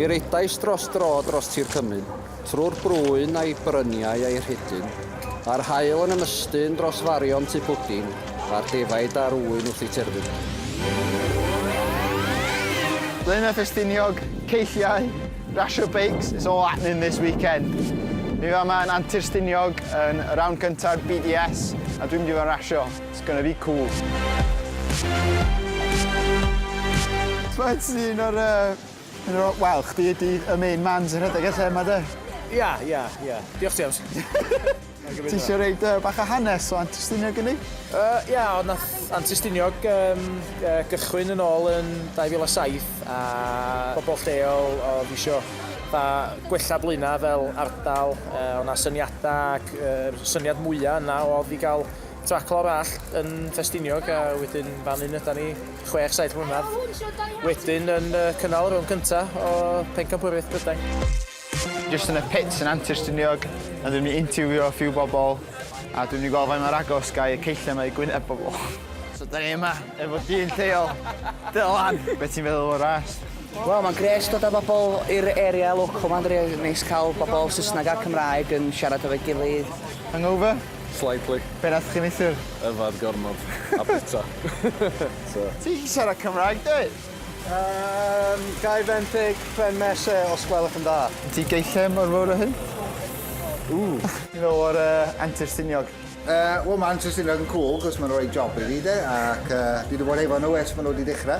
Mi redais dros dro dros tir Cymru, trwy'r brwyn a'i bryniau a'i rhedyn, a'r hael yn ymystyn dros farion tu pwdin, a'r defaid a'r ŵyn wrth ei terfyn. Blaenau Ffestiniog, ceilliau, rasio beics, it's all happening this weekend. Mi fama yn Antur Stiniog yn y rownd gyntaf BDS a dwi'n mynd i fod yn rasio. It's gonna be cool. T'mod ti un o'r yy un o'r wel chdi ydi y main man sy'n rhedeg y lle 'ma 'de? Ia ia ia. Diolch James. Ti isio roid yy bach o hanes o Antur Stiniog i ni? Yy ia o nath Antur Stiniog yym yy gychwyn yn ôl yn 2007 a pobol lleol odd isio fatha gwella Blaena' fel ardal yy o' 'na syniada ac yy syniad mwya' yna odd i ga'l Taclo arall yn Ffestiniog a wedyn fan hyn yda ni 6-7 mlynedd. Wedyn yn cynnal rhwng cynta o Pencampwriaeth Brydain. Just yn y pits yn Antur Stiniog, a dwi'n mynd i interviewio a few bobl, a dwi'n mynd i gweld faint mor agos ga i y ceilliau yma i gwyneb bobl. So da ni yma efo dyn lleol, Dylan, beth ti'n feddwl o'r ras? Wel, mae'n gres dod â bobl i'r area local, mae'n rili neis cael bobl Saesneg a Cymraeg yn siarad efo'i gilydd. Hangover? Slightly. Be' nath chi neithwr? Yfad gormod. A bita. So. Ti 'llu siarad Cymraeg dwyt? Yym, gai fenthyg pren mese os gwelwch yn dda? Ti gei lle mor fowr â hyn? Ooh. Helo o'r yy Antur Stiniog. Yy, wel ma' Antur Stiniog yn cŵl 'c'os ma'n roi job i fi 'de ac yy dwi 'di bod efo nw ers ma' nw 'di dechra.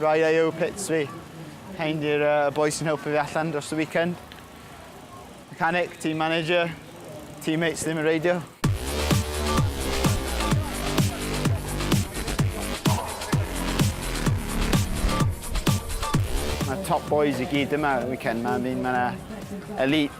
Rai o eu pits fi. Hein di'r uh, y boys sy'n helpu fi allan dros y weekend. Mechanic, team manager, teammates ddim yn reidio. Mae top boys i gyd yma y weekend. Mae'n mynd, mae'n elite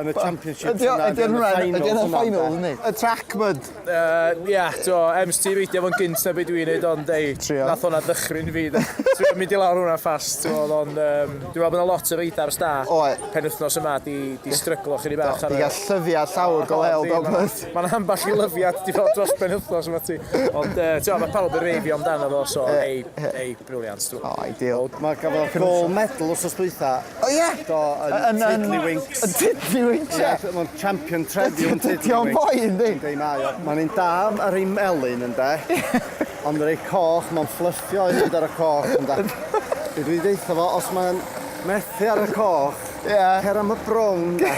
yn y Championship. Ydy o'n ydy hwnna, ydy o'n final, yndi? Y track mud. Uh, ia, do, ems ti reidio fo'n gynt na beth dwi'n neud, ond ei, nath hwnna ddychryn fi. Ti'n mynd i lawr hwnna ffast, ti'n meddwl, ond um, dwi'n meddwl bod yna lot o reidar sta. Oe. Pen wythnos yma, di, di stryglo chi ni bach. Di gael llyfia llawr go leil, dog mud. Mae'n amball i lyfiad, di fel dros pen wythnos yma ti. Ond, uh, ti'n meddwl, mae pawb yn reifio amdano fo, so ei, ei. Brilliant, stwff. O, ideal. Wel, mae gafodd Can gold also- medal wrthnos dwytha. O ie? Do, yn Yn- yn- Tiddlywinks. Yn Tiddlywinks, ie. Ie, mae'n champion trefi yn Dydy o'n Tiddlywinks. boi, yndi? Yndi, mae o. Mae'n un da ar ei melyn, ynde? Ond ar ei coch, mae'n fflyrtio i fynd ar y coch, ynde? Be dwi'n deitha fo, os mae'n methu ar y coch, Ie. cer am y brown, ynde?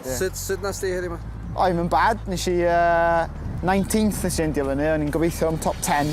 Sut, sut nas di heddiw ma? Oedd yn bad, nes i yy, 19th nes i endio fyny, o'n i'n gobeithio am top 10.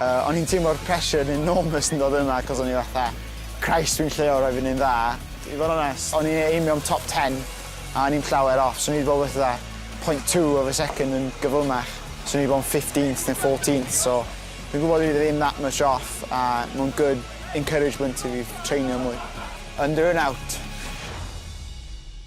Yy o'n i'n teimlo'r pressure yn enormous yn dod yma cos o'n i fatha Christ dwi'n lleol raid fi neud yn dda. I fod yn onest o'n i'n aimio am top ten a o'n i'm llawer off so o'n i 'di bod wrth fatha point two of a second yn gyflymach so o'n i 'di bod yn fifteenth ne fourteenth so dwi'n gwbod dwi ddim that much off a ma' o'n good encouragement i fi treinio mwy. Under and out.